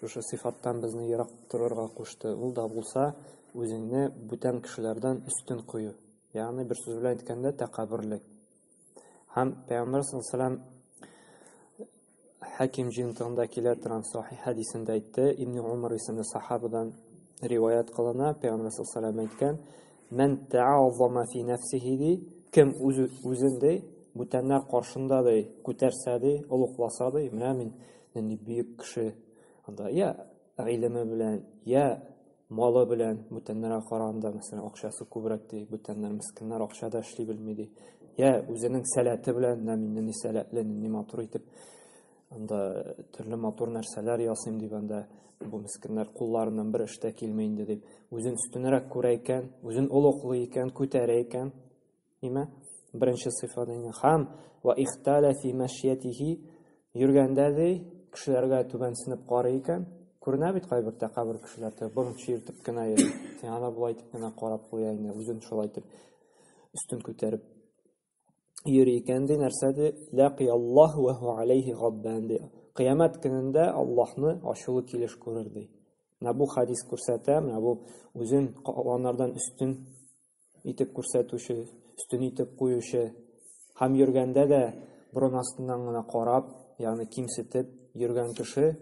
Шушы сыйфаттан безне ерак торырга кушты, ул да булса, үзеңне бүтән кешеләрдән өстен кую, ягъни бер сүз белән әйткәндә, тәкәбберлек. Һәм пәйгамбәр саллаллаху Хәким җыентыгында килә торган сахи хәдисендә әйтте, Ибн Умар исемле сахабадан риваят кылына, пәйгамбәр саллаллаху әйткән, Мән тәгӏазама фи нәфсихи ди, кем үз үзен ди, бүтәннәр каршында ди, күтәрсә ди, олугласа ди, менә мин нинди бөек кеше, анда я гыйлеме белән, я малы белән бүтәннәргә караганда, мәсәлән, акчасы күбрәк ди, бүтәннәр мескеннәр акча да эшли белми ди. Я үзенең сәләте белән, менә мин нинди сәләтле, нинди матур итеп анда э, төрле матур нәрсәләр ясыйм дип анда бу мескеннәр кулларыннан бер эштә килми инде дип үзен өстенрәк күрә икән үзен олуглый икән күтәрә икән нимә беренче сыйфат инде хам ва ихтала фи мәшиятихи йөргәндә ди кешеләргә түбәнсенеп карый икән күренә бит кайбер тәкәбер кешеләр борынчы иртеп кенә йөри сиңа да болай итеп кенә карап куя инде үзен шулай итеп өстен күтәреп йөри икән, ди, нәрсә ди? Ләкияллаһ ва ху алейхи гадбан ди. Кыямәт көнендә Аллаһны ачулы килеш күрер ди. Менә бу хадис күрсәтә, менә бу үзен калганнардан өстен итеп күрсәтүче, өстен итеп куючы һәм йөргәндә дә борын астыннан гына карап, ягъни кимсетеп йөргән кеше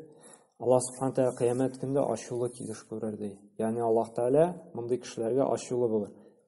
Аллаһ Субхану тәгалә кыямәт көндә ачулы килеш күрер ди. Ягъни Аллаһ Тәгалә мондый кешеләргә ачулы булыр.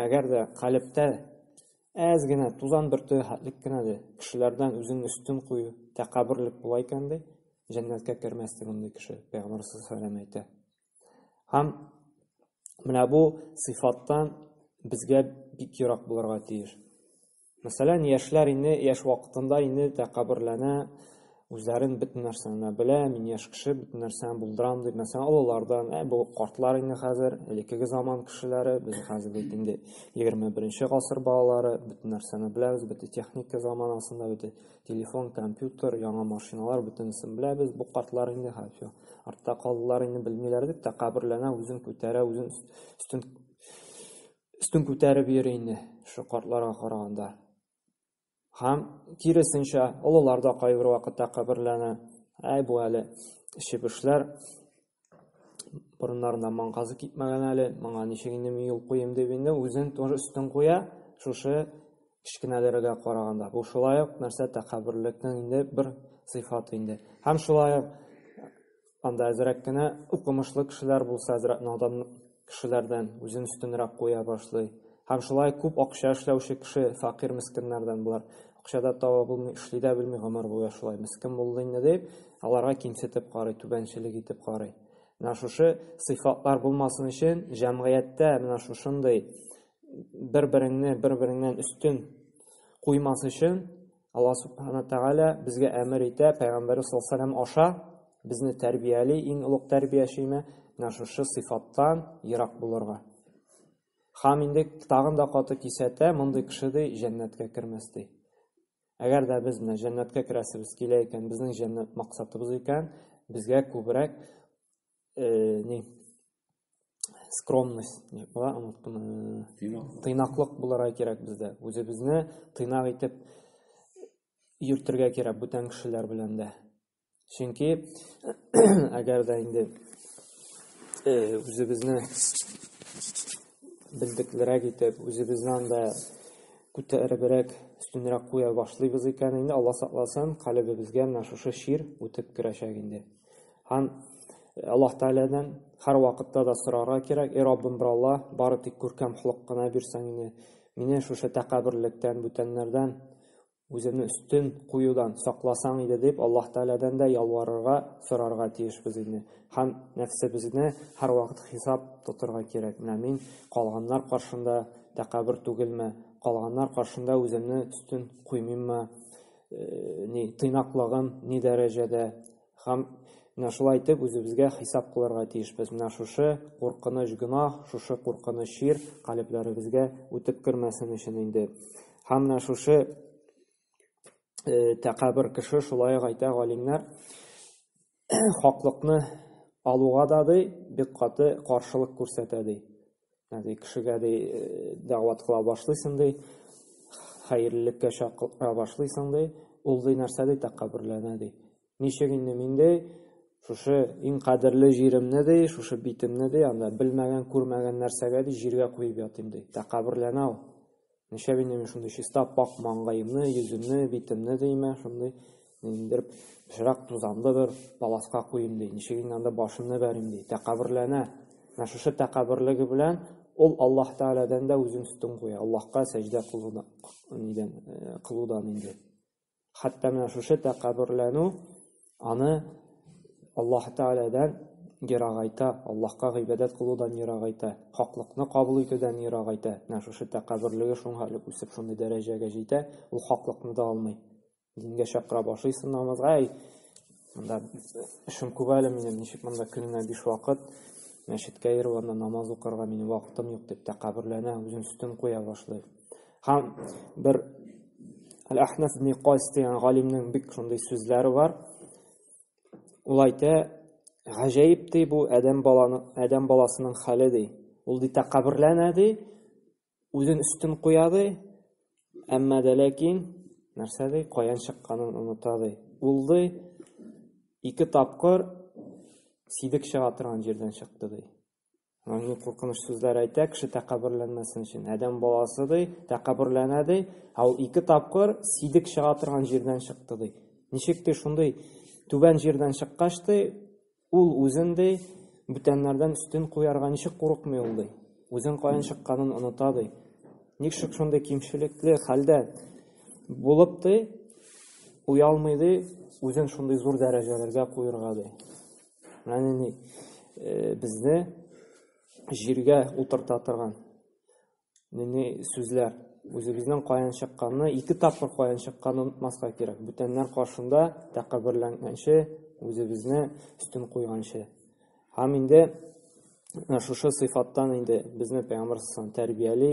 Әгәр дә калебтә әз генә тузан бөртеге хәтлек кенә дә кешеләрдән үзеңне өстен кую, тәкәбберлек була икән, ди, җәннәткә кермәс ди мондый кеше, пәйгамбәр саллаллаху әйтә. Һәм менә бу сыйфаттан безгә бик ерак булырга тиеш. Мәсәлән, яшьләр инде яшь вакытында инде тәкәбберләнә, үзләрен бөтен нәрсәне белә, мин яшь кеше, бөтен нәрсәне булдырам дип, мәсәлән, олылардан, ә бу картлар инде хәзер, элеккеге заман кешеләре, без хәзер бит инде 21 гасыр балалары, бөтен нәрсәне беләбез, бөтен техника заманасында, бөтен телефон, компьютер, яңа машиналар, бөтенесен беләбез, бу картлар инде хәзер артта калдылар, инде белмиләр дип, тәкәбберләнә, үзен күтәрә, үзен өстен өстен күтәреп йөри инде шул картларга караганда. Һәм киресенчә, олылар да кайбер вакытта каберләнә. Әй бу әле чебешләр борыннарына маңгазы китмәгән әле, моңа ничек инде мин юл куем дип инде үзен тоже өстен куя, шушы кечкенәләргә караганда. Бу шулай ук нәрсә тәкәбберлекнең инде бер сыйфаты инде. Һәм шулай ук Анда әзрәк кенә укымышлы кешеләр булса, әзрәк надан кешеләрдән үзен өстенрәк куя башлый. Һәм шулай күп акча эшләүче кеше фәкыйрь мескеннәрдән болар акча да таба булмый, эшли дә белми гомер буе шулай мескен булды инде дип, аларга кимсетеп карый, түбәнчелек итеп карый. Менә шушы сыйфатлар булмасын өчен җәмгыятьтә менә шушындый бер-береңне бер-береңнән өстен куймас өчен Алла Субхана Тәгалә безгә әмер итә, Пәйгамбәре саллаллаху аша безне тәрбияли, иң олуг тәрбиячеме, менә шушы сыйфаттан ерак булырга. Хам инде тагын да каты кисәтә, мондый кеше ди җәннәткә кермәс ди. Әгәр дә без менә җәннәткә керәсебез килә икән, безнең җәннәт максатыбыз икән, безгә күбрәк э, не скромность була тыйнаклык булырга кирәк бездә үзебезне тыйнак итеп йөртергә кирәк бүтән кешеләр белән дә чөнки әгәр дә инде э, үзебезне белдеклерәк итеп үзебезне анда күтәребрәк өстенрәк куя башлыйбыз икән инде алла сакласын калебебезгә менә шушы чир үтеп керәчәк инде Һәм Аллаһ Тәгаләдән һәр вакытта да сорарга кирәк, и Раббым бер Алла, бары тик күркәм холык кына бирсәң иде, мине шушы тәкәбберлектән, бүтәннәрдән үземне өстен куюдан сакласаң иде дип Аллаһ Тәгаләдән дә ялварырга, сорарга тиешбез инде. Һәм нәфсебезне һәрвакыт хисап тотырга кирәк, менә мин калганнар каршында тәкәббер түгелме, калганнар каршында үземне өстен куймыйммы, э, ни тыйнаклыгын ни дәрәҗәдә һәм менә шулай итеп үзебезгә хисап кылырга тиешбез менә шушы куркыныч гөнаһ шушы куркыныч шир калебләребезгә үтеп кермәсен өчен инде һәм менә шушы э, тәкәбер кеше шулай ук әйтә галимнәр хаклыкны алуга да ди бик каты каршылык күрсәтә ди. Ди кешегә ди э, дәгъват кыла башлыйсың ди, хәерлелеккә чакыра башлыйсың ди, ул ди нәрсә ди тәкәбберләнә ди. Ничек инде мин ди шушы иң кадерле җиремне ди, шушы битемне ди, анда белмәгән, күрмәгән нәрсәгә ди җиргә куеп ятыйм ди. Тәкәбберләнә ул. Ничә минем шундый чиста пак маңгаемны, йөземне, битемне деймә, шундый ниндер пычрак тузанлы бер паласка куйым ди. Ничек инде анда башымны бәрим ди. Тәкәбберләнә. Менә шушы тәкәбберлеге белән ул Аллаһ Тәгаләдән дә үзен өстен куя. Аллаһка сәҗдә кылудан, нидән, кылудан инде. Хәтта менә шушы тәкәббүрләнү аны Аллаһ Тәгаләдән ерагайта, Аллаһка гыйбадәт кылудан ерагайта, хаклыкны кабул итүдән ерагайта. Менә шушы тәкәббүрлеге шуңа элек үсеп шундый дәрәҗәгә җитә, ул хаклыкны да алмый. Дингә чакыра башлыйсың намазга, әй, монда эшем күп әле минем, ничек монда көненә биш вакыт мәчеткә йөрү, анда намаз укырга минем вакытым юк дип тәкәббүрләнә, үзен өстен куя башлый. Һәм бер Әл-Әхнәф ибн Кайс дигән галимнең бик шундый сүзләре бар. Ул әйтә, гаҗәеп ди бу адәм баланы, адәм баласының хәле ди. Ул ди тәкәбберләнә ди, үзен өстен куя ди, әмма дә ләкин нәрсә ди, каян чыкканын оныта ди. Ул ди ике тапкыр сидек чыга торган җирдән чыкты ди. Ягъни куркыныч сүзләр әйтә кеше тәкәбберләнмәсен өчен. Адәм баласы ди, тәкәбберләнә ди, ә ул ике тапкыр сидек чыга торган җирдән чыкты ди. Ничек ди шундый түбән җирдән чыккач ди, ул үзен ди бүтәннәрдән өстен куярга ничек курыкмый ул ди. Үзен каян чыкканын оныта ди. Ничек шундый кимчелекле хәлдә булып ди, уялмый ди, үзен шундый зур дәрәҗәләргә куярга ди. Яни э, безне җиргә утырта торган нинди сүзләр үзебезнең каян чыкканны ике тапкыр каян чыкканын онытмаска кирәк бүтәннәр каршында тәкәбберләнгәнче үзебезне өстен куйганчы һәм инде шушы сыйфаттан инде безне пәйгамбәр тәрбияли